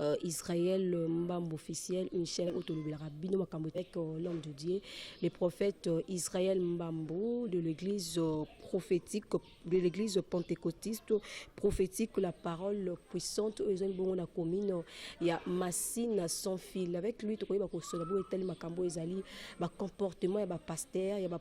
Euh, Israël euh, Mbambo officiel, une chaîne autolobelaka bino makambo avec euh, l'homme de Dieu, le prophète Israël Mbambo de l'église prophétique de l'église pentecôtiste prophétique la parole puissante oyo ezali bongo na commune ya Masina sans fil avec lui tokoyeba kosola boye etali makambo ezali ba comportement ya ba pasteur ya ba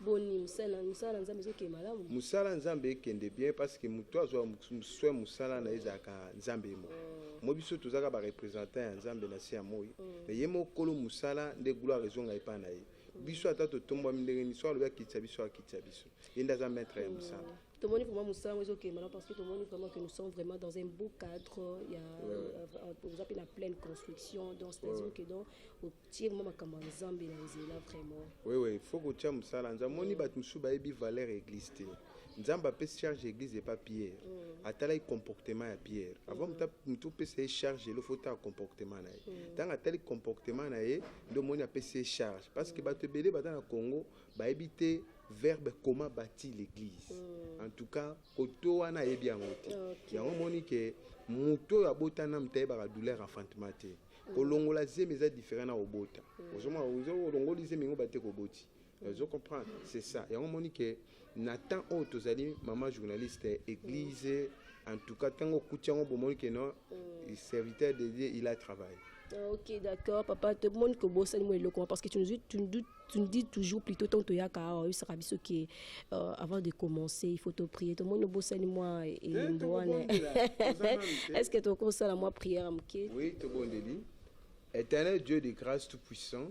boni musala musala nzambe ezokende malamu musala nzambe ekende bien parce que moto azwa soin musala na ezalaka nzambe mo mm. mo biso tozalaka barepresentant ya nzambe na se ya moi mm. me ye mokolo musala nde gloire ezonga epai na ye mm. biso ata totombwami ndenge nini so alobi akitisa biso akitisa biso ye nde aza maître ya mosala tomoni vraiment mosala yango ezokende malamu parce que tomoni vraiment que nous sommes vraiment dans un beau cadre ya euh, oza mpe na pleine construction donc c'est-à-dire que donc tire mwa makambo ya nzambe na nzela vraiment wewe fo kotya mosala nzambe amoni bato mosusu bayebi valeur ya église te nzambe apesi charge ya église epa pierre mm. atalaki comportement ya pierre avant mm. moto opesa ye charge elo fo tala comportement na ye ntango mm. atali comportement na ye nde omoni apesi ye charge parce que bato ebele baza na congo bayebi te verbe comment bâti l'église en tout cas koto wana ayebi yango te yango omoni ke moto oyo abotana moto ayebaka douleur enfantement te kolongola zemi eza différent na kobota ozomona olongoli zemi yango bate koboti ozo comprendre c'est ça yango omoni ke na temps oyo tozali mama journaliste église en tout cas ntango okuti yango bomoni ke non serviteur de dieu il a travaille Ah, ok, d'accord, papa, tout le monde que bosse, moi, le parce que tu nous, tu nous doutes tu nous dis toujours plutôt tant toyaka awa oyebisaka biso ke euh, avant de commencer il faut toprier tomoni obosani mwa elembo eh, wana est ce que tokoki kosala mwa prière ya moke oui tobondeli éternel dieu de grâce tout puissant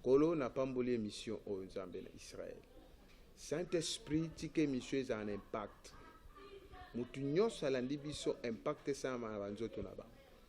kolo napamboli émission oyo oh, nzambe na israel saint-esprit tika émission ezala na impact motu nyonso alandi biso impact esalama na banzoto na bango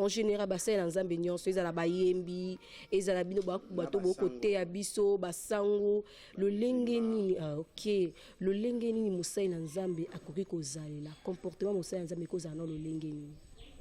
en général basali na nzambe nyonso ezala bayembi ezala bino bato bokoteya biso basango lolenge nini ah, ok lolenge nini mosali na nzambe akoki kozalela comportement mosali na nzambe ekozala na lolenge nini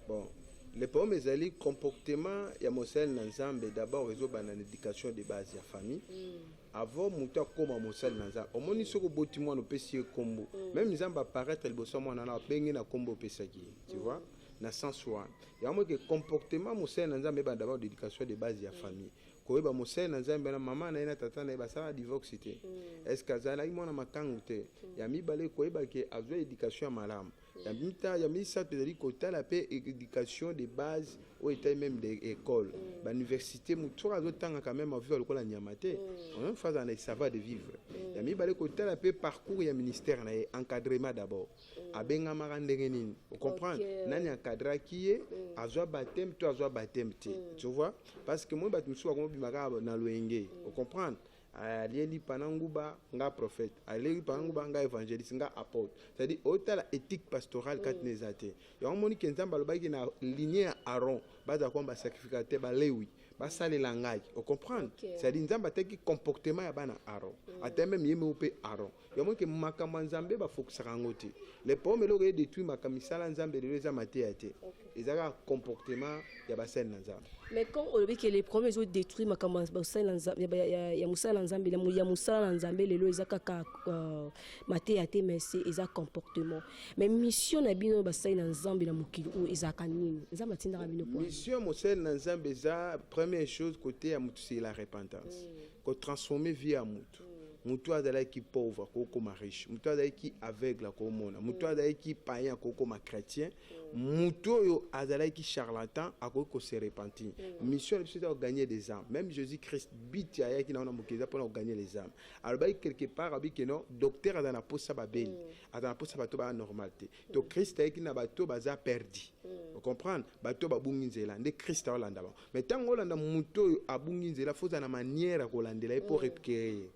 bon le problème ezali comportement ya mosali na nzambe d'abord ezobanda na éducation de base ya famille mm. avant moto akóma mosali na nzambe omoni soki oboti mwana opesi ye nkombo mm. meme nzambe apparaître liboso ya mwana na abenge na nkombo opesaki ye tu mm. vois na sens wana yango moke comportement mosali na nzambe ebanda bao d'éducation de base ya famille koyeba mosali na nzambe na mama na ye na tata na ye basala divorce te mm. est ce que azalaki mwana makangu te mm. ya mibale koyeba ke azwa éducation ya malamu ya mita ya misato ezali kotala mpe éducation de base oyo etali meme de école mm. bauniversité motu soki azotangaka meme aviva lokola nyama te mm. fazala na esava de vivre mm. ya mibale kotala mpe parcours ya ministère na ye encadrement d'abord mm. abengamaka ndenge nini ocomprendre okay. nani akadraki ye mm. azwa bateme to azwa bateme te mm. tu vois parce que moi bato mosusu bakoma bima kaka na loyenge mm. ocomprendre alieli pana nguba nga prophète alieli pana mm. nguba nga évangéliste nga apôtre c'est-à-dire otala éthique pastorale mm. kati na eza te yango omoni ke nzambe alobaki na linie ya aron bazala koma basacrificateur balewi basalela ngai ocomprendre okay. c'est-à-dire nzambe ataki comportement ya bana aron mm. ata meme ye moko mpe aron ya moke makambo ya nzambe bafokisaka yango te le problème eloko ye détruit makambo misala nzambe lelo eza mateya te eza kaka comportement ya basali na nzambe mais quand olobi ke le problème ezo détruire makambo ya basali na nzambe ya- ya- ya mosala na nzambe na mo- ya mosala na nzambe lelo eza kaka euh, mateya te mais se eza comportement mais mission na bino basali na nzambe na mokili oyo ezalaka nini nzambe atindaka bino po mission mosali na nzambe eza première chose koteya moto se la repentance ko transformer vie ya mutu mutu azalaki pauvre akokoma riche mutu azalaki aveugle akomona mutu mm. azalaki païen akokoma chrétien mm. mutu oyo azalaki charlatan akoki kose repentir mm. mission na biso eza kogagner des âmes même jésus christ biti ayaki nango na mokili eza mpona kogagner les âmes alobaki quelque part abi ke non docteur aza na mposa babeli aza na mposa bato baya normal te to christ ayaki na bato baza perdi ocomprendre bato babungi nzela nde christ aolanda bango me ntango olanda moto oyo abungi nzela fo ozala na manière ya kolandela ye mpo repkere ye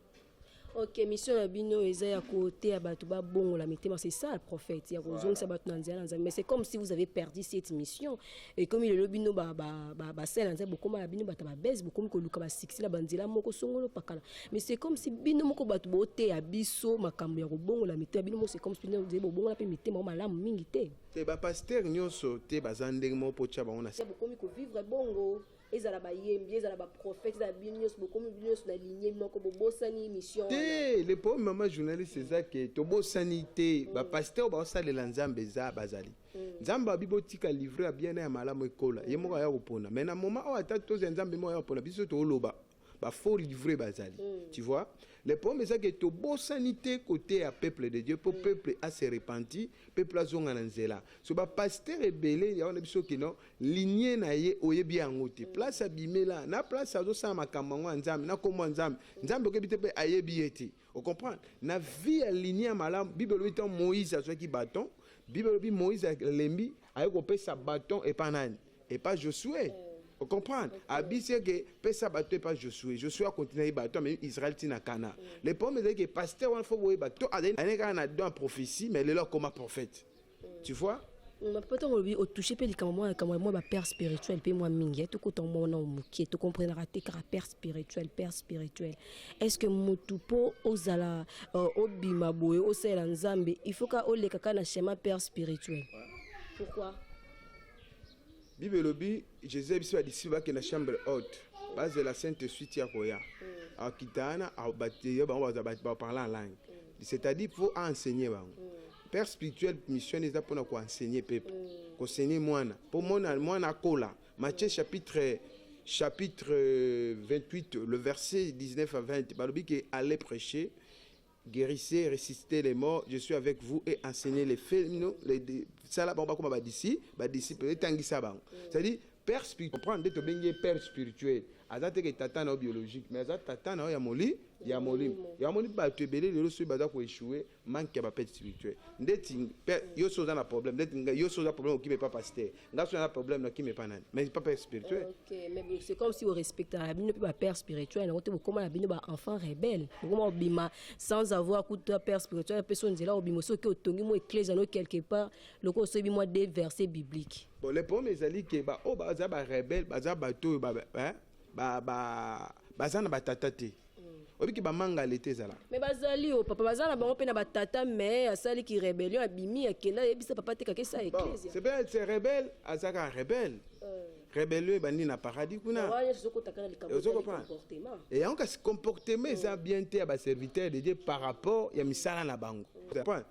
ok mission na bino eza ya koteya bato babongola mitema c'est ça le prophète ya kozongisa bato na nzela na nzambe mais c'est comme si vous avez perdu cette mission ekomi lelo bino basala na nzambe bokoma na bino bato ya babese bokomi koluka basuccès na banzela moko songolo pakala mais c'est comme si bino moko bato boteya biso makambo ya kobongola mitema bino moko c'est comme si bino bobongola mpe mitema o malamu mingi te te ba pasteur nyonso te baza ndenge moko mpo tya bango na ya bokomi kovivre bongo ezala bayembi ezala baprofete ezala bino nyonso bokomi bino nyonso na ligne moko bobosani mission te le problème mama journaliste eza ke tobosani te mm. bapasteur baosalela nzambe eza bazali mm. nzambe abi botika livre ya bien na ya malamu ekola ye moko aya kopona mai na moma oyo ata tozi ya nzambe moko aya kopona biso tooloba ba faux livre bazali mm. tu vois le problème eza ke tobosani te kote ya peuple de dieu mpo mm. peuple a se repenti peuple azonga na nzela so bapaster ebele ya wana biso kino linie na ye oyebi yango te mm. place abimela na place azosala makambo yango ya nzambe na nkombo ya nzambe nzambe okebi te mpe ayebi ye te ocomprendre na vie ya linie ya malamu bible elobi ntango moïse azwaki baton bible elobi moïse alembi aye kopesa baton epa nani epa josue ocomprendre abisi eke pesa bato epa josue josue akontina ye bato amemi israel ntina kana le problème ezali ke paster wana fo boyeba to azali kaka na don ya prophétie mais lelo akoma prophète tu vois poto olobi otouche mpe likambo mwa likambo mwa bapère spirituel mpe mwa mingi tokota mwa wana moke tokomprenaka te kaka père spirituel père spirituel est ce que motu mpo ozala euh, obima boye osalela nzambe il faut ka olekaka na chemin père spirituel pourquoi bible elobi jesus ayebisi badisiple bakenda chambre haute bazela sainte suite ya koya mm. akita wana yo bango baparle en langue mm. c'est-à-dire mpo aenseigne bango mm. père spirituel mission eza mpona koenseigne pepe koseigne mwana mpo mwana akola matthieu chapitre chapitre 28 le verset 19 à 20 balobi ke aller prêcher guerissez, ressuscitez les morts, je suis avec vous et enseignez les faits, les sala bango bakoma ba disciples, ba disciples etangisa bango. C'est-à-dire père spirituel, prendre ndeto bengi père spirituel. Aza te que tata na biologique, mais aza tata na ya moli, ya moli. Ya moli ba tu belé lelo soyi baza ko échouer, manque ya ba père spirituel. Ndeti yo soza na problème, ndeti yo soza problème okipe pas pasteur. nga so na problème na kimi epa nani mais pas père spirituel ok mais c'est comme si orespectaka bino mpe ba père spirituel yango te bokoma na bino ba enfant rebelle bokoma obima sans avoir kuta père spirituel apesa nzela obima soki oke otongi mwa éclese yango quelque part loko osoyebi mwa de verset biblique bon le problème ezali ke baoyo oh, baza ba rebelle baza bato oyo baza na batata te oyebi ke bamanga leta ezalaka me bazali o papa baza na bango mpe na batata me asali ki rebellion abimi akenda ayebisa papa te kakesa eklezia c'est bien c'est rebelle azaka rebelle euh. rebelio ebandi na paradis kuna e yango kasi comportement eza bien te ya baserviteur de dieu par rapport ya misala na bango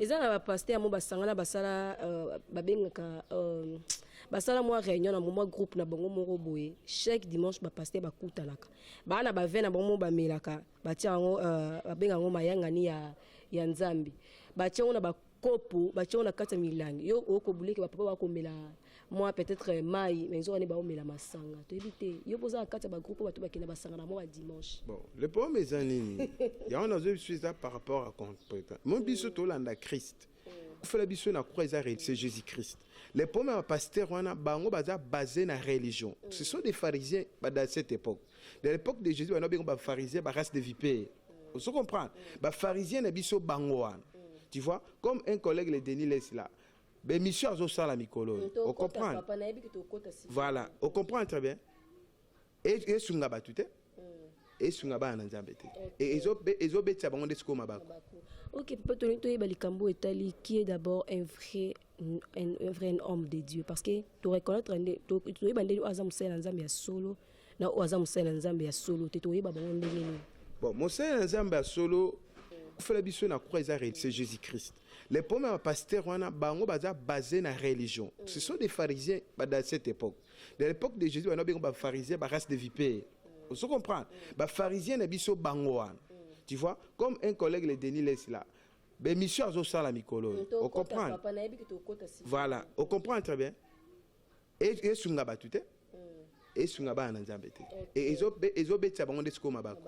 eza na bapaster yango basangana basala euh, babengaka euh, basala mwa réunion na mwa groupe na bango moko boye chaque dimanche bapaster bakutanaka baa na bave na bango moko bamelaka batia yango euh, babenga yango mayangani ya, ya nzambe batia yango na bakopo batia yango na kati ya milangi yo okobuleke bapapa bakomela mwa peut-être euh, mai mais nzoka nde baomela masanga toyebi te yo mpo oza na kati ya bagroupe oyo bato bakenda basanga na mwa ba dimanche bon le problème eza nini yango nazoyi biso eza par rapport à compétent mo biso tolanda christ kufela biso na croix eza c'est jésus christ le problème ya bapasteur wana bango baza basé na religion ce sont des pharisiens ba- dans cette époque de l'époque de jésus bana bengo bapharisien barace de vipere ozo comprendre bapharisien na biso bango wana tu vois comme un collègue le denis les là B'emission azosala mikolo oyo. Tokota, Ocomprendre? papa, nayebi ke tokota sika. Voilà, ocomprendre très bien. E- Esunga bato te, esunga bana na Nzambe te. E- ezo- be- Ezobetisa bango nde sikoyo mabaku. Ok, papa Tony, toyeba likambo oyo etali qui est d'abord un vrai un, un vrai homme de Dieu parce que to reconnaître nde to- toyeba ndenge oyo aza mosali na Nzambe ya solo na oyo aza mosali na Nzambe ya solo te toyeba bango ndenge nini. Bon, mosali na Nzambe ya solo, kufela biso na croix eza re- c'est Jésus-Christ. Les problèmes ya pasteur wana bango baza basé na religion. Ce sont des pharisiens ba dans cette époque. De l'époque de Jésus bana bengo ba pharisiens ba race de vipères. Vous comprenez? Ba pharisiens na biso bango wana. Tu vois comme un collègue le Denis Less là. Bemission azosala mikolo. Au comprendre? Voilà, au comprendre très bien. E, esunga bato te esunga bana na nzambe te e, ezobetisa bango nde sikoyo mabaku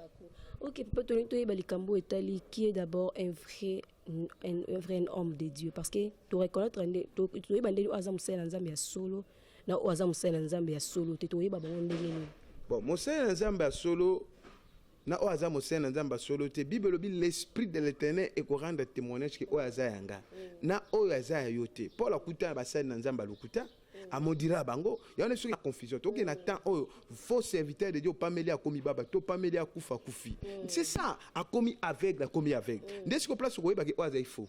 ok papa tolingi toyeba likambo etali qui est d'abord un vrai un, un vrai homme de dieu parce que toreconnaitre nde toyeba ndenge oyo aza mosali na nzambe ya solo na oyo aza mosali na nzambe ya solo te toyeba bango ndenge nini bon mosali na nzambe ya solo na oyo aza mosali na nzambe ya solo te bible elobi l'esprit de l'éternel ekorendre témoignage ke oyo aza ya nga na oyo aza ya yo te paul akuta na basali na nzambe ya lokuta amodira bango yango nde soki na confusion toke na temps oyo faux serviteur de dieu opameli akomi baba to opameli akufa akufi c'est ça akomi aveugle akomi aveugle nde siko place okoyebake oyo azali faux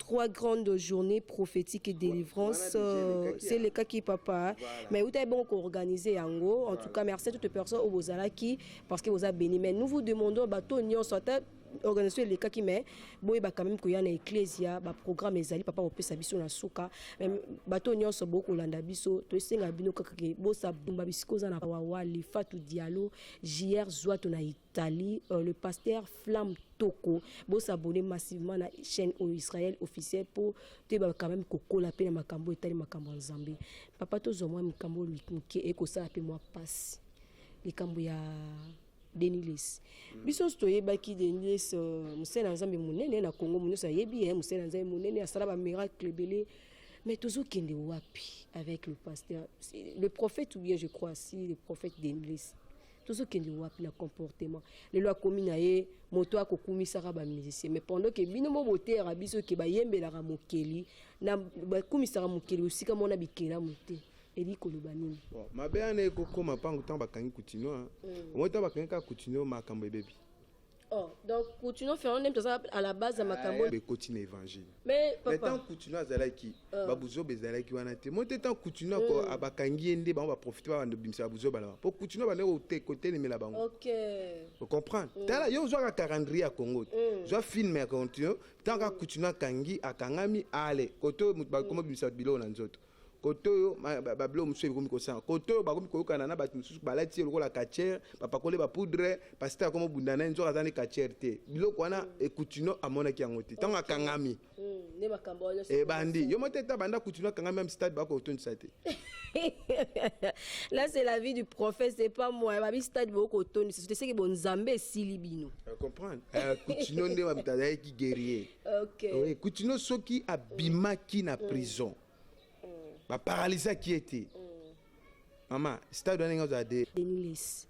trois grandes journées prophétiques et délivrance euh, c'est le cas qui papa mais vous avez bon organisé yango en tout cas merci à toutes les personnes au Bozalaki parce que vous avez béni mais nous vous demandons bateau nyon soit organisation elekaki mais boyeba quand même koya na eklesia baprogramme ezali papa kopesa biso na suka bato nyonso bokolanda biso toesenga bino kaka ke bosabumba bisika oza na wawali fatu dialo jr zwatu na Tali, euh, le pasteur Flamme Toko. Bo s'abonner massivement à la chaîne au Israël officiel pour te ba quand même kokola pe na makambo etali makambo en Zambie. Papa to zo moi makambo lui muke e ko sala pe moi passe. Likambo ya Denilis. Mm. Biso to yebaki Denilis euh, musela Nzambe munene na Congo munene sa yebi eh musela Nzambe munene asala ba miracle belé. Mais tozo kende wapi avec le pasteur le prophète ou bien je crois si le prophète Denilis. tozokende wapi na comportement lelo akomi na ye moto akokumisaka bamusicien mais pendant ke bino mo boteyaka biso ke bayembelaka mokeli na bakumisaka mokeli osika mona bikelamu te eli koloba nini mabe wana ekokoma mpango ntango bakangi coutinio omoi ntango bakangi kaka coutinio makambo ebebi Oh, donc Coutinho Fernand nde toza à la base ya ah, makambo oyo ekoti na évangile mais papa mais tant Coutinho azalaki ah. babuzoba ezalaki wana te moi te tant Coutinho ako hmm. abakangi ye nde bango baprofite babanda obimisa babuzoba na bango mpo Coutinho abandaki kotelemela bango ok ocomprendre hmm. tala yo ozwaka calendrier ya Congo te hmm. zwa film ya Coutinho tant kaka Coutinho akangi akangami ale kote bakomi obimisa biloko na nzoto kote oyo babilo mosusu ekomi kosala kote oyo bakomi koyokana na bato mosusu balati ye lokola kachere bapakole bapoudre pasite akoma obunda na ye nzoka aza nde kachere te biloko wana ekutino amonaki yango te ntango akangami hmm, ebandi yo motete abanda kutino akangami ya mstade bakotondisa te là c'est la vie du prophète c'est pas moi babi stade bokotondisa sote seke bonzambe esili bino comprendre kutino nde bamtazalaki guerrier Okay. Oui, euh, Kutino soki abimaki na mm. prison. Mm. Ba paralysa qui était. Mm. Maman, stade wana nga zade. Denilis.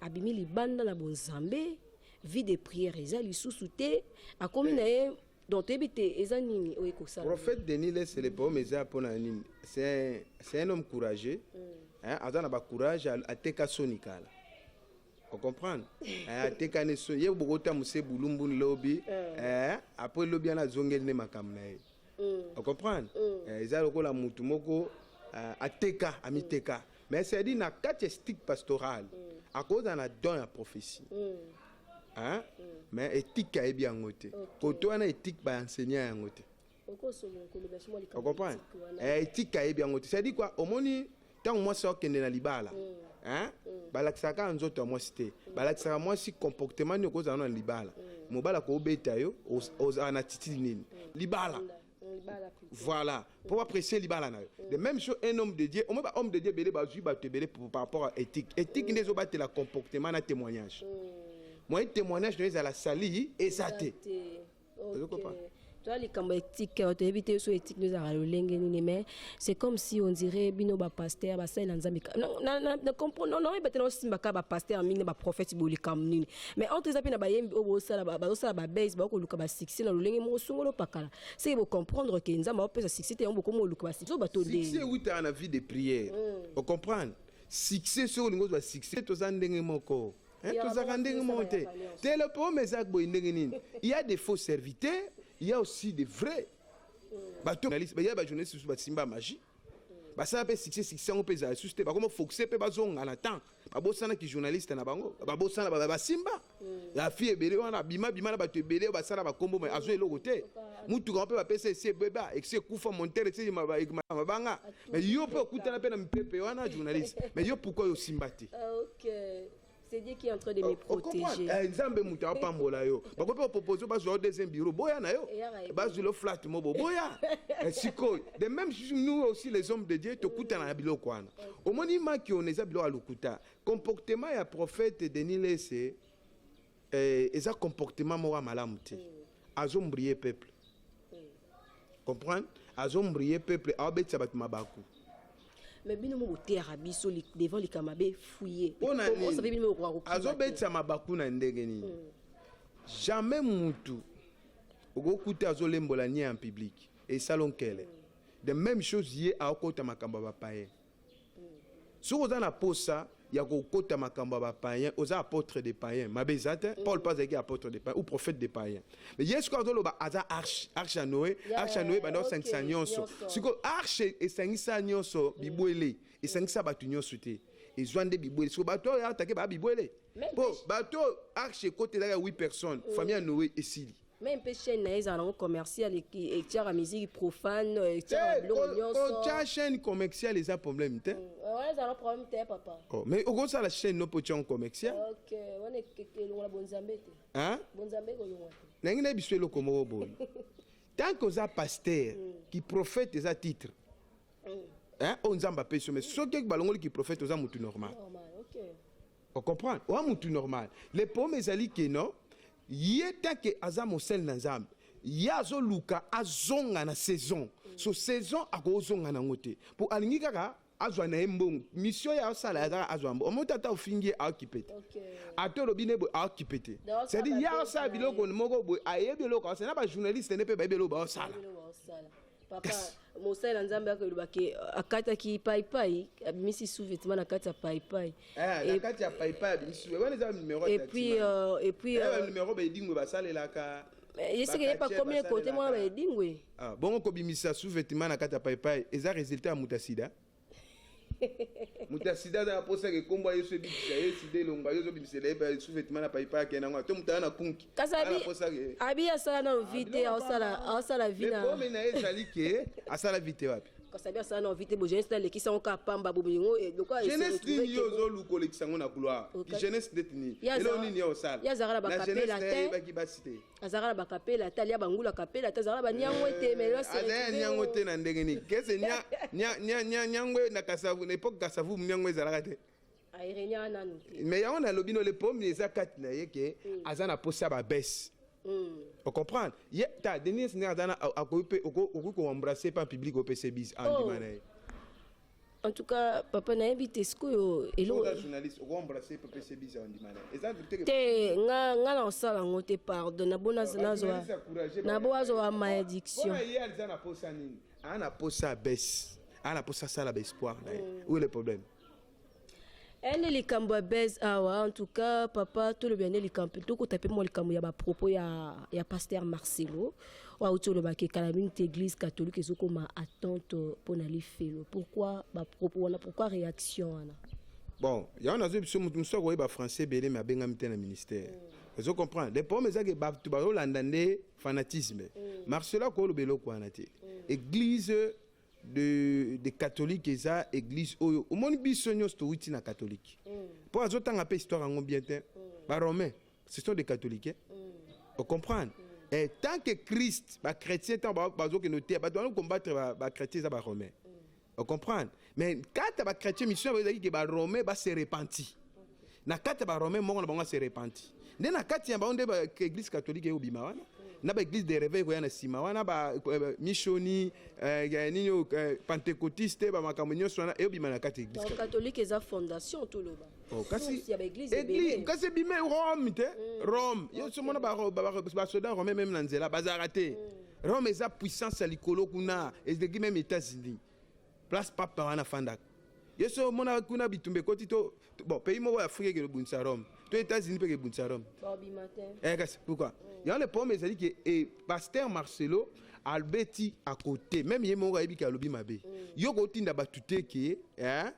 Abimi libanda na bonzambe, vie de prière eza lisusu te, akomi na ye donc toyebi te eza nini oyo ekosala prophète denis lese le poème eza mpo na nini c'est un homme courageux mm. aza na bacourage ateka soni kala ocomprendre eh, atekani so ye bokotamuse bulumbu lobi eh. eh, apres lobi wana azongeli nde makambo na ye mm. ocomprendre mm. eh, eza lokola motu moko eh, ateka amiteka mm. mais cedi na kati ya stique pastoral akozala na don ya prophétie mais etike ayebi yango te koto wana etike baenseignant yango te O comprendre? Eh, etika yebi yango te. C'est-à-dire quoi? Omoni ntango mwasi akende na libala mm. hein? Mm. balakisaka kaka nzoto ya mwasi te mm. balakisaka mwasi comportement nini okozala na libala mobali akobeta yo ozala na titili nini libala voilà mpo baprecie libala na yo de même chose un homme de dieu omoi bahomme de dieu ebele bazwi bato ebele par rapport à éthique éthique nde ezobatela comportement na témoignage moyen témoignage na yo ezala sali eza te toa likambo etike bato yebi te so etike nde ezalaka lolenge nini mais c'est comme si on dirait bino bapaster basalela nzambe naoyeba te naosimbaka bapaster mingi na baprofete bo likambo nini mais entre eza mpe na bayembi oyo bazosala babase bakoluka basuccès na lolenge moko songo lopakala seke bocomprendre ke nzambe aopesa succès te yango bokomi oluka basuccès oyo bato ewutaka na vie de prière ocomprendre succès soki olingi ozwa succès toza ndenge moko Eh, tozalaka ndenge moko te telepoome eza boye ndenge nini ya de faux serviteur ya aussi de vrai bato ya bajournaliste mosusu basimba magie basala mpe succès succès yango mpe ezala susu te bakoma focuser mpe bazonga na temps babosanaki journaliste na bango babosana basimba mm. ya fille ebele wana abima bima na bato ebele basala bakombo mai azwa eloko te motuka yango mpe bapesa esi ebeba esi ekufa montere esi mabanga mai yo mpe okutana mpe na mipepe wana journaliste mai yo pourkoi osimba te euh, C'est Dieu qui est en train de me oh, oh, protéger. Eh, Nzambe muta pambola yo. Bako pe proposer ba zo deuxième bureau. Boya na yo. Ba zo le flat mo boya. Eh, siko. De même nous aussi les hommes de Dieu to kuta na bilo kwana. Omoni maki on eza bilo alukuta. Comportement ya prophète Denis Lesse Eh, eza comportement moko ya malamu te azombrie peuple comprendre azombrie peuple aobetisa bato mabaku mais bino mo boteyaka biso devant likambo mabe fuye azobetisa mabaku na ndenge nini hmm. jamais mutu okokuta azolembola nie en public esalo nkele de même chose ye aokota makambo ya bapaye soki oza na posa ya kokota makambo ya bapayen oza apôtre de payen mabe eza te mm. paul mpe azalaki apôtre de payen ou prophète de payen mais ye sikoyo azoloba aza arche arche ya noe arche ya noe banda osangisa nyonso sikoyo arche esangisa nyonso mm. bibwele esangisa bato nyonso te ezwa nde bibwele sikoyo bato oyo atake baa bibwele mpo bato oyo arche ekotelaka ya 8 personnes mm. famille ya noe esili meme mpe chaîne na ye ezala nango commercial etiaka miziki profane etiaka biloko nyonsootya chaîne commercial eza problème te wana ezala na problème te papa oh, mais okosala chaîne no mpo otya ngo commercial ok wana elongola bonzambe te bonzambe ekolongola te nangi na biso eloko moko boye tant que oza pasteur ki prophète eza titre oyo nzambe apesi yo mais soki balongoli ki prophète oza motu normal O comprendre? Oa mutu normal. Le problème ezali que non, ye tant que aza mosali na Nzambe, ye azoluka azonga na saison so saison akozonga nango te mpo alingi kaka azwa na ye mbongo misio ya osala ya kaka azwa mbongo omoto ata ofingi ye aokipe te ata olobi ne boye aokipe te cedi ye aosala biloko moko boye ayebi eloko aosala na bajournaliste ne mpe bayebi eloko baosala papa yes. mosali na nzambe yako eloba ke euh, akataki paipai abimisi sous vêtement na kati ya paipai eh, na kati ya paipai abimisi wana eza numero et puis euh, et puis eh, euh, numero baedingwe basalelaka eh, ye seke ye pakomi ekote mwana baedingwe ah, bongo kobimisa sous vêtement na kati ya paipai eza résultat ya moto ya sida moto ya sida aza na mposa yake nkombo ya yesu ebikisa ye sida elonga yo ozobimisela ye pa sous-vêtement na paipa yake na yango to moto aya na kunki kasi aza na abi mposa yake abi asala nano vi te aosala aosala vi na lepome na ye ezali ke asala vite wapi kasi abi asala nano vi te bo jeunesse nalekisi yango kaka pamba bobo yango eh, lokola jeunesse nini yo ozoluka olekisa yango na gloire Okay. jeunesse ndeti nini Ye aza- elo nini ye osala ye azalaka na Na bakapela jeunesse na ye te. ayebaki basi te azalaka na bakapela ata alia bangula kapela ata azalaka na banyango ete eh, melazaya nyango te na ndenge nini kese nyango na kasavu na epoke kasavu nyango ezalaka te me yango nalobi no le problème eza kati na ye ke mm. aza na mposa babese Mm. ocomprendre ye ta denis nde aza na akoki mpe okoki koembrasse mpe en public opesa bise andima ah, oh. na ye En tout cas, papa na yebi te sikoyo eloko journaliste oko embrasser papa c'est bizarre ndima na. Eza te te nga nga na osala ngo te pardon na bona na zo na bo azo wa malédiction. Bona ye aliza na posa nini? Ana posa baisse. Ana posa sala ba espoir na ye. Mm. Où est le problème? ene likambo ya base awa en tout cas papa tolobela nde likambo tokota mpe mwa likambo ya bapropos ya, ya pasteur marcelo oyo auti olobaki kala mingi te église catholique ezokoma attente mpo na lifelo pourquoi bapropos wana pourquoi réaction wana bon yango nazwi biso moto mosusu akoyeba français ebele me abengami te na ministère mm. ozo comprendre le problème ezaki bato bazolanda nde fanatisme mm. marcelo akoyoloba eloko wana te mm. église de, de catholique eza église oyo omoni biso nyonso towiti na catholique mpo mm. azotanga mpe histoire yango bien te mm. baromain ce sont des catholiques hein? mm. ocomprendre mm. eh, tant que christ bachrétien ntango bazokende oteya bato wana combattre bachrétien eza baromain mm. ocomprendre mais kata bachrétien mission yango ezalaki ke baromain base repenti mm. na kati ya barome moko na bango ase repenti nde na kati ya bango nde baeglise katolike ekobima wana na baeglise de reveil ekoya na nsima wana bamisioni eh, eh, eh, nini oyo pentecotiste bamakambo nyonso wana eyobima na kati eglisekatolike eza fondation toloba oh, kasi ebime rome te mm. rome yonso mona basoda rome meme na nzela bazalaka te mm. rome eza puissance ya likolo kuna ezeki meme états-unis place papa wana afandaka ye so omonaka kuna bitumba ekoti to bon pays moko ya afrika ekende obundisa rome to états-unis mpe ekebundisa rome eh, kasi pourquoi mm. yango le problème ezali ke eh, pasteur marcelo albeti akote meme ye moko ayebi ke alobi mabe mm. yo kotinda bato te ke eh,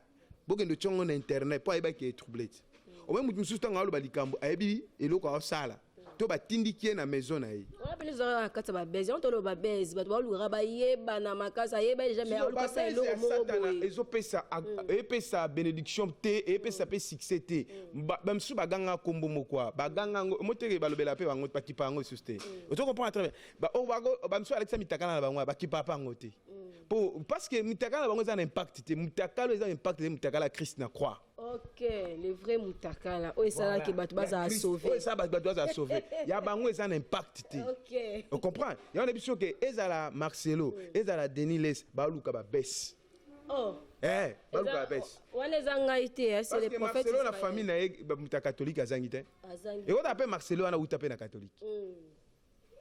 bokende otya ngo na internet mpo ayebaki ke etroublete omoi moto mosusu ntango aloba likambo ayebi eloko aosala to batindiki ye na maison na ye wana mpe ezalaka na kati ya babese yango toloba babese bato baolukaka bayebana makasi ayeba deja me alukasa eloko moko boye ezopesa mm. epesa benediction te epesa mpe succès te mm. bamisusu baganga nkombo moko baganga yango omoteke balobela mpe bango bakipa yango lisusu te mm. ozo comprendre très bien bamisusu alakisa mitakala na bango bakipaka mpe yango te po parce que mutakala bango eza na impact te mutakala eza na impact te mutakala christ na croix ok le vrai mutakala oyo esalaki bato bazala sauve oyo esala bato bazala sauve ya bango eza na impact te ok ocomprendre yango na biso ke ezala marcelo ezala denis les baluka babese oh eh baluka babese wana eza ngai te eh, c'est le prophète marcelo na famille na ye moto ya katolike azangi te ekota mpe marcelo wana uta mpe na katolike mm.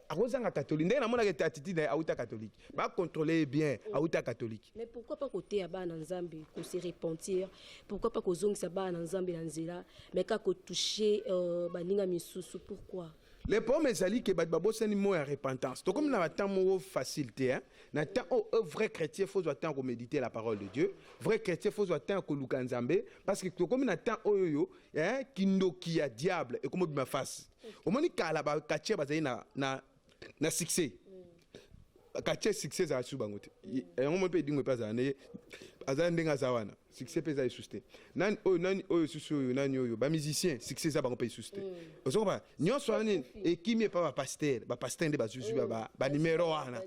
akozanga catholique ndenge namonaka ete attitude na ye awuta catholique bacontrole ye bien mm. awuta catholique mais pourquoi pas koteya bana nzambe kose repentir pourquoi pas kozongisa bana nzambe na nzela mais kaka kotouche euh, baninga misusu pourquoi le problème ezali ke bato babosani mot ya repentance tokomi na batemp moko facile te na temps oyo oh, oh, vrai chrétien fozwa temps ya komédite la parole de dieu vrai chrétien fozwa temps ya koluka nzambe parce que tokomi na temps oyo oyo kindoki ya diable ekomobima face omoni kala ba quartier bazali na na na succès quartier succès ezala su bango te yango mo mpe edingo mpe azala ndenge azala ndenge aza wana succès mpe eza lisusu te nani oyo nani oyo susu oyo nani oyo ba musicien succès eza bango mpe lisusu te mm. ozo koba nyonso wana nini ekimi epa ba pasteur ba pasteur nde bazuzi mm. ba ba numero wana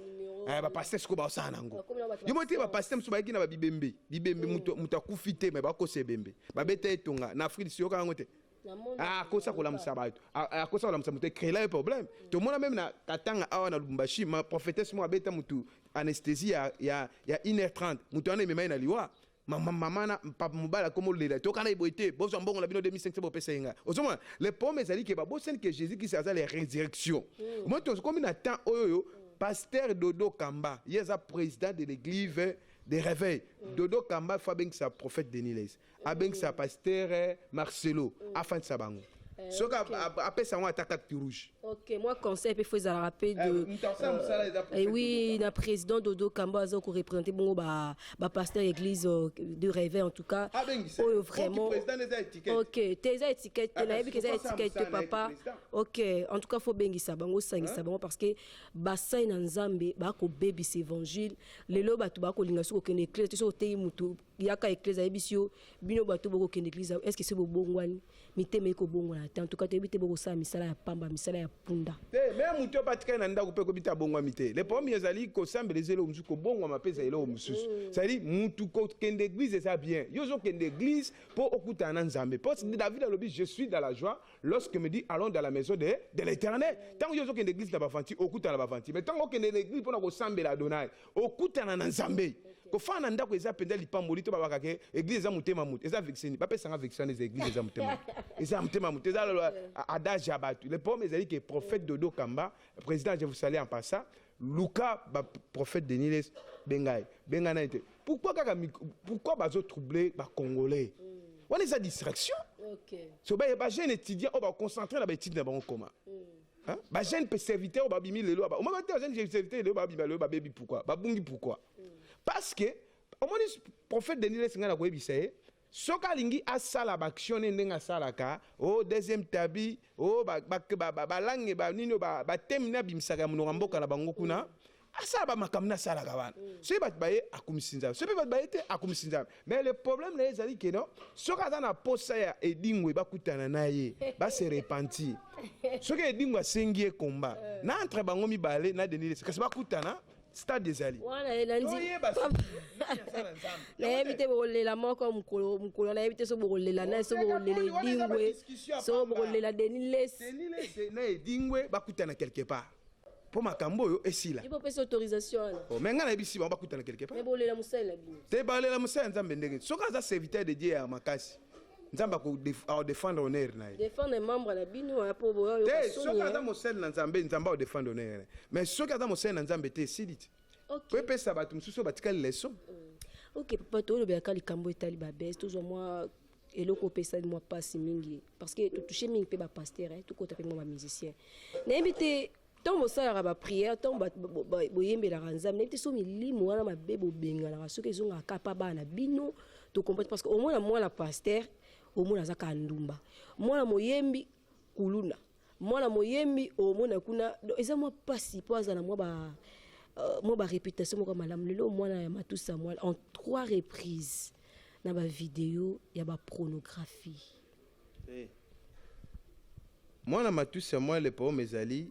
eh, ba pasteur siko baosala nango yo mo te ba pasteur mosusu bayaki na ba bibembe bibembe mm. moto akufi te me bakosa ebembe babeta etonga na afrique siyoka yango te Ah, akosa kolamusa bato ah, ah, akosa kolamusa moto ecréela ye problème tomona meme na katanga awa na lubumbashi ma prophétesse moko abeta motu anesthésie ya, ya, ya 1h30 moto wana emema ye na liwa mama na papa mobali akoma olela tokana ye boye te bozwa mbongo na bino 2500 bopesa ye ngai ozomona le problème ezali ke babosani ke jésus kristo aza la résurrection mm. moi tokomi na temps oyo oyo pasteur dodo kamba ye aza président de l'église de réveil mm. dodo kamba fo abengisa prophète deniles abengisa pasteur eh, marcelo mm. afandisa bango eh, soki apesa yango ata carte rouge ok moi conseil mpe fo ezalaka mpe de oui na président dodo kambo aza koreprésente bongo bapasteur église euh, de réveil en tout cas ah, oyo vraiment ok te eza étiquette te ah, nayebi ke eza étiquette te papa ok en tout cas fo bengisa bango osangisa bango parce que basai na nzambe bakobebisa évangile lelo bato bakolinga soki kokende éclese te soki oteyi motu yaka eklezia ayebisi yo bino bato bokokende eklezia est ce que se bobongwani mitema eki kobongwana te antuka toyebi te bokosala misala ya pamba misala ya punda te me moto oyo batikali na ndako mpe ekobi te abongwami te le problème ezali kosambela eza eloko mosusu kobongwama mpe eza eloko mosusu mm. cestadire motu kokende église eza bien yo ozokende église mpo okutana na nzambe mpo david alobi je suis dans la joie lorsque me dit allons dans la maison de, de l'éternel ntango yo ozokende église na bavanti okutana na bavanti mais ntango okende na église mpo na kosambela adonai okutana na nzambe kofana na ndako eza mpenza lipamboli to babaka ke eglise eza motema moto eza vexeni bapesanga vexeni eza eglise eza motema moto eza motema moto eza adage ya bato le problème ezali ke prophète dodo kamba président je vous salue en passant luka baprophète deniles bengai bengai nani te pourquoi kaka pourquoi bazotrouble bacongolais wana eza distraction okay. so baye bajeune étudiant oyo baconcentre na baétude na bango koma mm. Hein? Ba jeunes pe serviteurs ba bimi lelo ba. Omaka te jeunes serviteurs lelo ba bimi lelo ba baby pourquoi? Ba bungi pourquoi? Parce que omoni prophète Denis Lessinga na koyebisa ye soki alingi asala baaction ne ndenge asalaka o oh, deuxième tabi o oh, balange banini batemi na abimisaka ya monoko ya mboka na bango kuna asala bamakambo na asalaka wana soki bato baye akumisi nzambe soki mpe bato baye te akumisi nzambe mais le problème na ye ezali ke no soki aza na posa ya edingwe bakutana na ye base repentir soki edingwe asengi ye komba na entre bango mibale na denis lesi kasi bakutana stade ezali wana ye nandi Toyeba soki nani aza na Nzambe. nayebi te bokolela moko mokolo mokolo nayebi te so bokolela naye so Wana bokolela eza ba edingwe discussion ya so pamba. bokolela deni lesi Denis Lessi na edingwe bakutana quelque part mpo makambo oyo esila ye bopesi autorisation wana oh, me ngai nayebisi bango bakutana quelque part bolela mosali na bino te balela mosali ya nzambe ndenge soki aza serviteur de dieu ya makasi nzambe akodefendre honneur na ye defendre membre na bino mpo boyote soki aza mosali na nzambe nzambe akodefendre honneur na ye mais soki aza mosali na nzambe te esili ti po epesa bato mosusu oyo batikali leson mm. ok papa toolobelaka likambo etali babese tozwa mwa eloko opesali mwa mpasi mingi parce que totouche mingi mpe bapastere eh, tokota mpe mwa bamusicien nayebi te ntango bosalaka bapriere ntango boyembelaka nzambe nayebi te so milimo wana mabe bobenganaka soki ezongaka kapa bana bino tokomprete parce que omona mwana pastere omona aza kaka ndumba mwana moyembi kuluna mwana moyembi omona kuna donc eza mwa mpasi mpo azala mwa ba euh, mwa ba réputation moko ya malamu lelo mwana ya matusa mwana en trois reprises na ba video ya ba pornographie Eh. mwana matusi ya mwa le problème ezali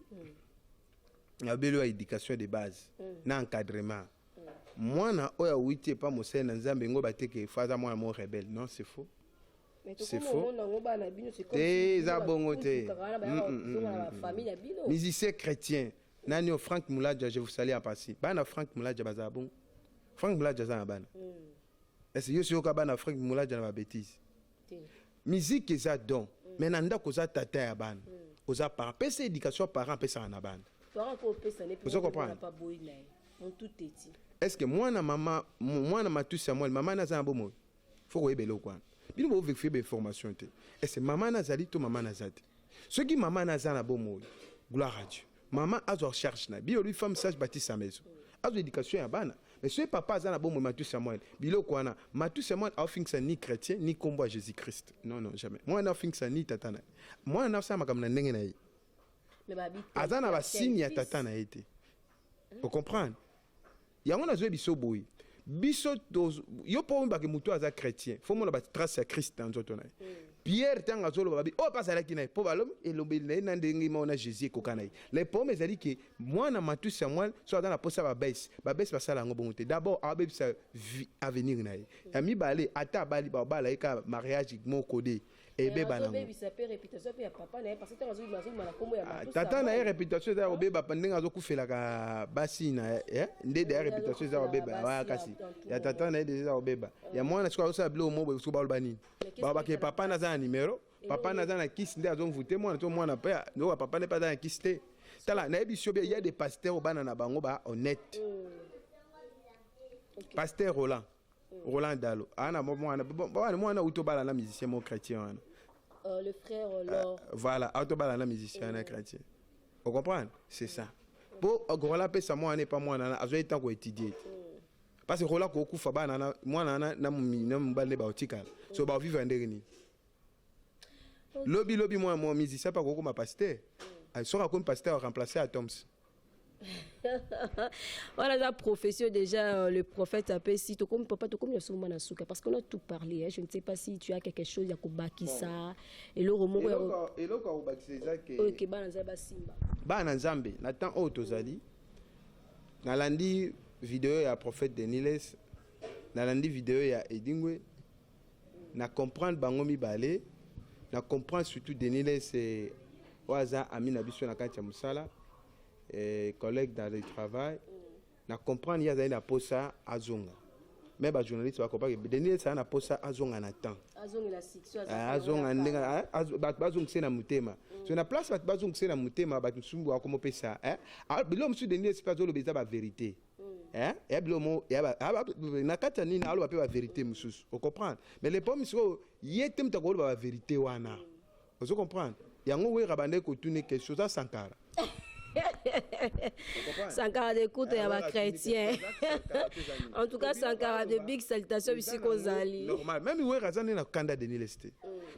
ya belo ya éducation de base na encadrement mwana oyo awuti epa mosali na nzambe ngo bateke fo aza mwana mo rebelle non c'est faux C'est faux. Te, eza bongo te. Musicien chrétien. Nani o Frank Mulaja, je vous salue en passé. Bana Frank Mulaja baza bon. Frank Mulaja za na bana. Mm. Est-ce que yoka bana Frank Mulaja na ba bêtises? Musique eza don. Mm. Mais na ndako za tata ya bana. Mm. Oza par pesa éducation parent pesa na bana. Parent ko pesa ne pesa. Oza comprendre? Pas boy na. Mon tout est. Est-ce que moi na maman, moi na matusa moi, maman na za na bomoyo? faut koyeba eloko wana bino bovekifie bainformation te ese mama nazali to mama naza te soki mama naza na bomoi gloire à dieu mama azwa charge na biyo lui femme sage batisa maison azwa éducation ya bana mais soki papa aza na bomoi matusi ya mwana biloko wana matusi ya mwana aofingisa ni chrétien ni nkombo ya jésus christ non non jamais mwana aofingisa ni tata na ye mwana na asala makambo na ndenge na ye aza na basini ya tata na ye te ocomprendre Yango nazo biso boye biso yo mpo oyebake motu aza chrétien fo omona batrace ya christ na nzoto na ye mm. pierre ntango azoloba babi oyo oh, mpe azalaki na ye mpo balobi elobeli na ye na ndenge moko na jésus ekoka na ye le problème ezali ke mwana matusi ya mwana so aza na mposa babese babese basala yango bongo te d'abord abebisa avenir na ye ya mibale ata abali babala ye kaka mariage moko de ebeba nango ah, tata na ye reputation eza ya kobeba ndenge azokufelaka basi na ye eh? nde deya reputation eza ya kobeba ya kasi ya tata na ye deja eza kobeba ya ah. mwana sikoyo azosala biloko mobo sikoyo baloba nini balobaka papa naza na numero papa naza na kisi nde azomvute mwana to mwana mpe ndoka papa nde mpe aza na kisi te tala nayebi sio bia ya de pasteur obana na bango ba honnête mm. pasteur roland Roland Dalo ana mwana bwana mwana utobala na musicien mo chrétien wana euh, le frère euh, Lor euh, voilà utobala na musicien na chrétien vous comprenez c'est ça po Roland pesa mwana epa mwana na azo etango étudier parce que Roland kokufa bana na mwana na na mobali ne baotikala so baovivre ndenge nini lobi lobi mwana mwa musicien pa kokoma pasteur soki akomi pasteur remplacer atoms wana aza profession déjà euh, le prophète apesi tokomi papa tokomi na soma na suka parce qu'on a tout parlé hein. je ne sais pas si tu as quelque chose ya kobakisa eloko moko ya- eloko akobakisa eza ke oyo ke bana nzambe basimba bana na nzambe na temps oyo tozali nalandi video ya prophète deniles nalandi video ya edingwe Na comprendre bango mibale, na comprendre surtout Denis Lesse oyo aza ami na biso na kati ya mosala eh, collègue dans le travail na comprendre ye azali na posa azonga me bajournaliste bakopaki denis esala na posa azonga na temps azonga ah, ndenge ah, ah, bato bazongise na motema mm. so na place bato bazongise na motema bato mosusu bakomopesa eh? bilo mosusu denis esipe azoloba eza baverité eh ya bilo mo ya ba ah, ba- na kati ya nini aloba mpe baverité mosusu ocomprendre mais le problème sikoyo ye te moto akoloba baverité wana ozo comprendre yango wera bandaki kotune question oza sankara sankara de kutu ya bachrétien en tout cas sankara de big salutation bisika ozali normal même wera aza nde na kanda deniles te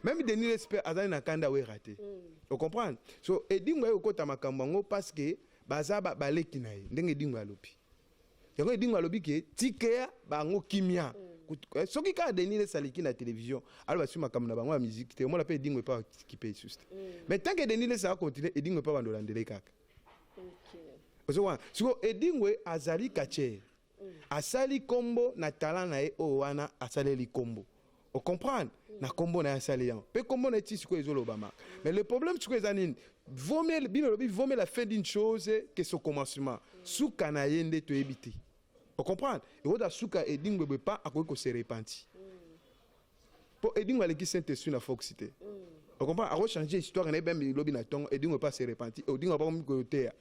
même deniles mpe aza nde na kanda wera te ocomprendre so edingo aye kokota makambo yango parce que Baza ba baleki na ye ndenge Edingwe alobi. Yango Edingwe alobi ke tikea bango kimia. Mm. Eh, soki kaka denis lesa aleki na télévision aloba soki makambo na bango ya miziki te omona mpe edingo epa bakipe esusu te mm. mais tant que denis lesa akontinue edingo epa bandolandele kaka ozowana siko edingwe azali kacher asali kombo na talent na ye oyo wana asaleli kombo o comprendre na kombo na ye asali yango mpe kombo na ye ti sikoyo ezolobama mais le problème sikoyo eza nini vomel bino lobi vomel la fin d'une chose que son commencement suka na ye nde toyebi te o comprendre ekota suka edingbebwe pa akoki kose repentir mpo edingo aleki saint esprit na fox te o comprendre akochanger histoire na ye bembi lobi na ntongo edingo epa se repentir odingo abakomi koyoteya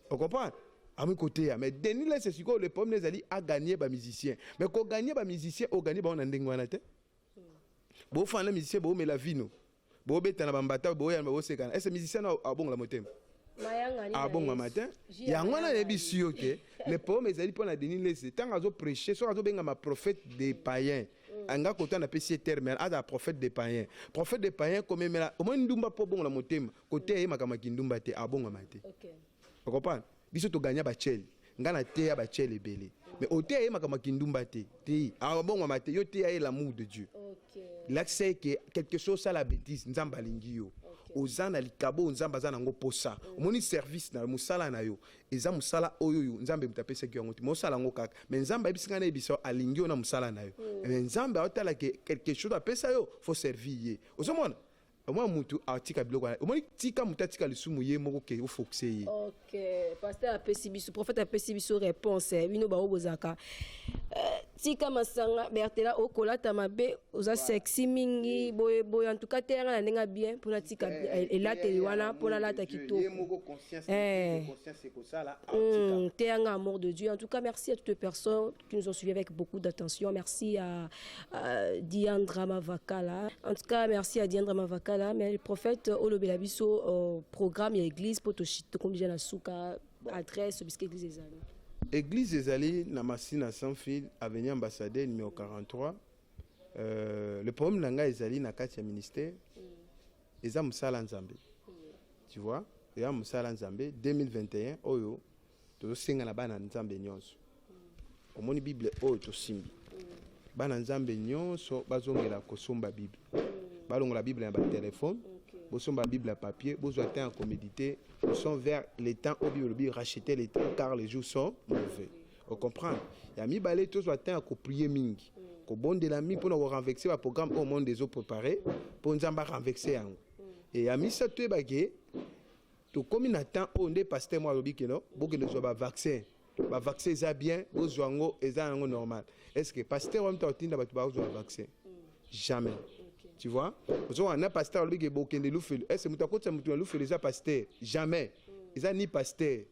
Vous comprenez ami côté ya mais Denis Lesse sikoyo le problème ezali a gagner ba musiciens mais ko gagner ba musiciens o gagner ba na ndenge wana te bo fana musicien bo mela vino bo beta na bambata bo ya bo sekana est musicien abongola motema abonga matin yango wana nayebisi yo ke le problème ezali mpo na denis lese ntango azoprêche soki azobengama prophète de païen Mm. anga kota napesi ye terme azala prophète de payen prophète de payen komemela omoni ndumba mpo obongola motema koteya ye makambo ya kindumba te abongama te okopana biso toganya bacele ngai nateya bacele ebele mais oteya ye makambo ya kindumba te te abongama te yo teya ye l'amour de dieu lakisa ye ke quelque chose osala bétise nzambe alingi yo oza na likabo oyo nzambe aza na yango mposa omoni service na mosala na yo eza musala oyo yo nzambe moto apesaki yango te mosala yango kaka me nzambe ayebisi ngai nayebisa yo alingi yo na mosala na yo mm. me nzambe aotala ke quelque chose apesa yo fo servir ye ozomona omona mutu atika biloko wana omoni tika mutu atika lisumu ye moko ke ofokise ye ok pasteur apesi biso prophète apesi biso réponse bino baoyo bozalaka euh, tika masanga bertela okolata mabe oza sexy mingi boye boye en tout cas teyanga na ndenge ya bien mpona tika eh, elateli wana mpona alata kitoko eh. hmm, teyanga amour de dieu en tout cas merci à toutes les personnes qui nous ont suivi avec beaucoup d'attention merci à, à diandra mavakala en tout cas merci à diandra mavakala mais le prophète olobela biso euh, programme ya église mpo tokomi deja na suka adresse oyo bisika eglise ezali eglise ezali na masina sanfil avenue ambassadeur numero 43 euh, le problème na ngai ezali na kati ya ministère mm. eza mosala nzambe mm. tu vois eza mosala nzambe 2021 oyo tozosenga na bana nzambe nyonso omoni bible oyo tosimbi bana nzambe nyonso bazongela kosomba bible balongola bible na batelefone bosomba bible ya papier bozwa temps ya komedite sont vers le temps oyo bible elobi racheter le temps car les jours sont mauvais ocomprendre ya mibale tozwa temps ya koprie mingi kobondela mingi mpona korenvexe baprogramme oyo monde ezoprepare mpo nzambe arenvexe yango e ya misato toyebake tokomi na temps oyo nde paster moko alobi keno bokende zwa bavaccin ba vaccin eza bien bozwa yango eza yango normal est ce que pasteur wana mta otinda bato bakozwa ba vaccin jamais tu vois ozokana na pasteur alobi ke bokende lufelu est ce moto akotisa moto na lufelu eza pasteur jamais eza ni pasteur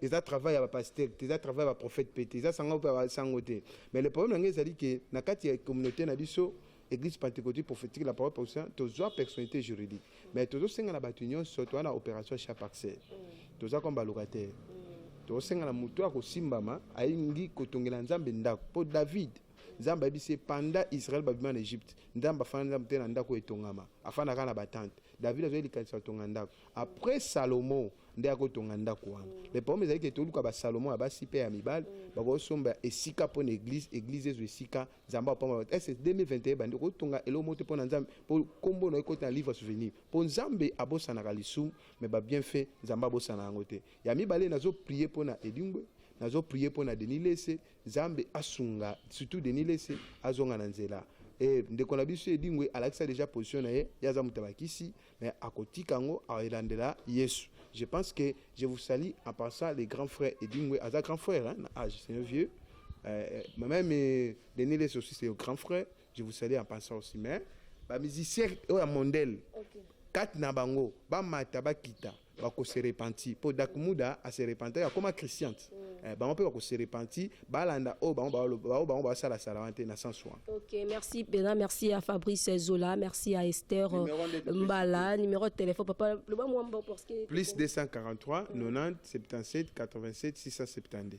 eza travail ya bapasteur te eza travail ya baprophète mpe te eza sango mpe ya basango te mais le problème na ngai ezali ke na kati ya communauté na biso Église Pentecôtique prophétique la parole position tozwa personnalité juridique mais tozosenga na bato nyonso toza na opération chat parcelle toza comme balocataire tozosenga na moto akosimbama alingi kotongela nzambe ndako mpo david nzambe ayebisi ye panda israel babima na egypte nzambe afanda nzambe te na ndako etongama afandaka na batante david azwaki likanisi atonga ndako après salomo nde akotonga ndako wana le problème ezali ke toluka basalomo ya basi mpe ya mibali bakosomba esika mpo na église église ezwa esika nzambe apambola est ce 2021 bandi kotonga eloko moko te mpo na nzambe mpo nkombo na ye ekoti na livre souvenir mpo nzambe abosanaka lisumu me babienfait nzambe abosana yango te ya mibale nazoprie mpo na edingwe nazoprie mpo na denis lese nzambe asunga surtout denis lese azonga na nzela e ndeko na biso edingwe alakisa deja position na ye ye aza moto ya bakisi mais akotika yango alandela yesu je pense que je vous salue en passant les grands frères edingwe aza grand frère hein, na age c'est un vieux euh, euh même euh, denis les aussi c'est grand frère je vous salue en passant aussi mais bamusicien oyo ya mondele okay. kati na bango bamata bakita bako se repentir mpo dakmuda ase repentaki akoma christiante mm. eh, bango mpe bako se repentir balanda oyo bango baoyo bango baosalasala wana te na sens wana ok merci mpenza merci ya fabrice zola merci ya esther euh, mbala numero ya telefone papa loba mwa mbo parce que plus 243 90 77 87 672